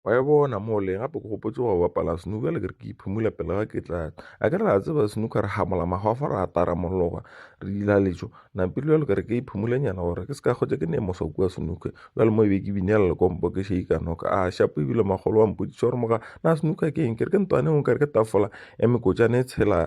wa e bona mole gape ke gopotse go bapala snooker le ke re ke iphumula pele ga ke tla a ke re a tseba snooker re gamola magofa re apara mologa re dila letšo nampile jalo ke re ke iphumolenyana gore ke se ka kgotsa ke ne mosa kua snooker jale mo e be ke binela lekompo ke sheika noka a shapo ebile magolo wa mpotšiša gore moga na snooker ke eng ke re ke ntwane o ka re ke tafola ya mekotšane e tshela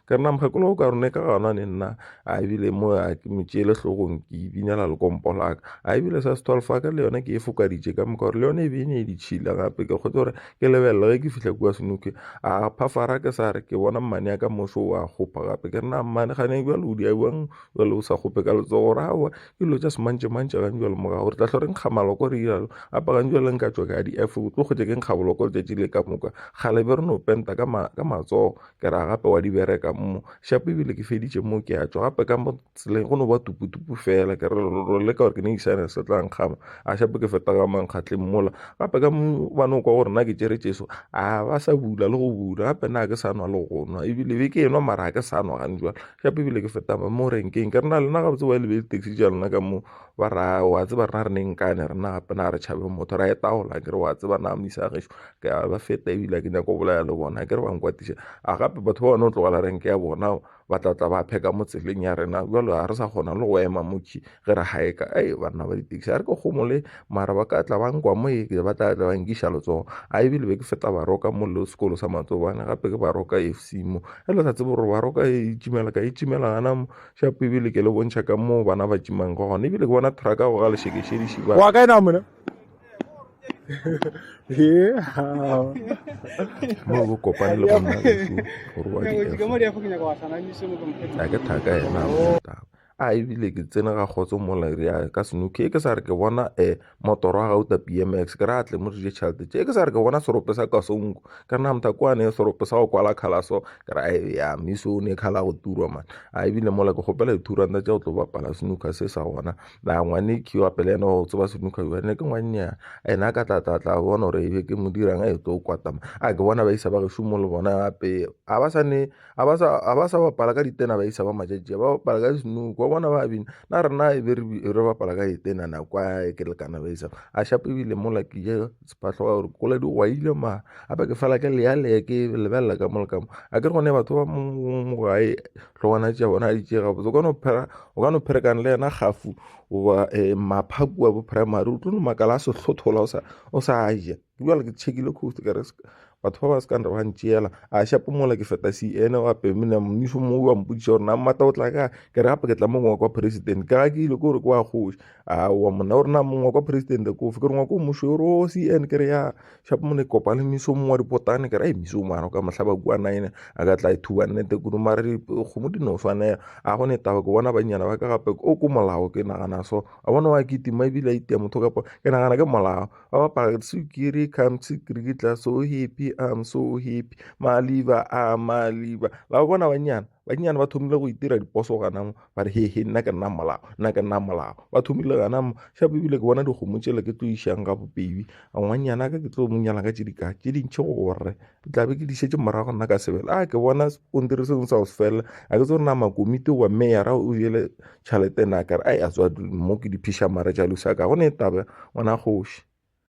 ka nna mokgekolo o ka rone ka gona ne nna a ebile mo a ke mo tšeele hlogong ke ibinela lekompo laka a ebile sa se twelve ka le yone ke e fokaditše ka moka gore le yone e be e ne e ditšhila gape ke kgotse gore ke lebelele ge ke fihla kua senoke a phafara ke sa re ke bona mmane ya ka moso o a kgopa gape ke rena mmane gane bjale o diabjang bjale o sa kgope ka letsogo gore aowa ke dilo tša semantše mantše gang bjale morago gore tlahlo re nkga maloko re iralo apagang bjale nka tswa ka di efe o tlo kgotse ke nkga boloko letšatši le ka moka kgale be re no penta ka matsogo ke ra gape wa di bereka mo shapo ebile ke feditše mo ke a tšwa gape ka mo tseleng go no ba tuputupu fela ke re lo leka gore ke ne isane se tla nkgama a shapo ke feta ka mankgatleng mola gape ka mo ba no kwa gore na ke tšere tšeso a ba sa bula le go bula gape na ke sa nwa le go nwa ebile be ke enwa mara ke sa nwa gane jwale shapo ebile ke feta mo renkeng ke re na lena gabotse wa e lebele taxi ja lona ka mo ba ra wa tseba rena re neng kane rena gape na re tšhabe motho ra etagola kere wa tseba na misa gešo ke a ba feta ebile ke nyako bolaya le bona kere ba nkwatiša a gape batho ba bone o tlogela renke ya bona ba tla tla ba pheka mo tseleng ya rena jalo ga re sa kgona le go ema motšhi ge re gaeka ei banna ba ditaxi a re ke gomole mara ba ka tla ba nkwa mo e ba tla tla ba nkiša letsogo a ebile be ke feta baroka mo le sekolo sa matsobane gape ke baroka e fc mo e le sa tsebe gore baroka e itšimela ka itšimela gana mo Shapo ebile ke le bontšha ka moo bana ba tšimang go gona ebile ke bona thraka go ga lešekešedi šiba wa kae na mona mo go kopane le gonna lesu gore wa di-a ke thaka ena a ebile ke tsene ga kgotso mola re ya ka senoke ke sa re ke bona um motoro wa gauta bmx ke re a tle mo dije tšhelete tše ke sa re ke bona serope sa kasonko ka re na mothakwane serope sa go kwala khalaso ke ra e ya miso o ne khala go turwa man a ebile mola ke gopela dithuranta tša go tlo bapala senuka se sa gona na ngwane ke wa pele ene go tseba senuka yo ne ke ngwannyana ene a ka tlatlatla bona gore ebe ke mo dirang a e tlo kwatama a ke bona ba isa ba gešomo le bona gape a ba sa ne ga ba sa ga ba sa bapala ka ditena ba isa ba matšatši ba bapala ka snook wa bona ba bina na rena e be re bapala ka etena nako e ke lekana ba isa a shape ebile mola ke je sephatlho wa gore kola di gwaile ma gape ke fela ke leya leya ke lebelela ka mo le ka mo a ke re gone batho ba mo gae tlhogwana tša bona a di tšega botse o ka no phera o ka no pherekana le yena gafu goba um maphaku wa bo primary o tlo no makala a sehlothola o sa o sa ja bjale ke tšhekile coast ka re batho ba ba se ka nre ba ntšeela a shapo mola ke feta se ene wa pemena mmušo mo wa mpotšiša gore na mmata o tla ka ke re gape ke tla mongwe wa kwa president ka ga ke ile ke gore ke wa kgoši a wa monna gore na mongwe wa kwa president ko fe ke re ngwa ko mmušo gore o se ene ke re ya shapo mone kopa le mmušo mongwe wa dipotane ke re a mmušo mano ka mohlaba kua nine a ka tla ithuba nnete kudu mara dikgomo di no swanela a gone taba ke bona banyana ba ka gape o ko molao ke nagana so a bona wa kitima ebile a itia motho kapa ke nagana ke molao Oh, but sukiri come sukiri tla so happy I'm so happy maliba a maliba la bona banyana banyana ba thomile go itira diposo gana mo ba re he he nna ke nna molao nna ke nna molao ba thomile gana mo shapo ebile ke bona dikgomo tšele ke tlo išang ga bobedi ngwanyana ka ke tlo mo nyala ka tše di ka tše dintšhe gore ke tla be ke di šetše morago nna ka sebele a ke bona skontiri sengwe sa go se felela a ke tse gore na makomiti goba meyara o jele tšhelete na kare a ya tswa mo ke di phiša mara jalo sa ka gone e taba ngwana kgoši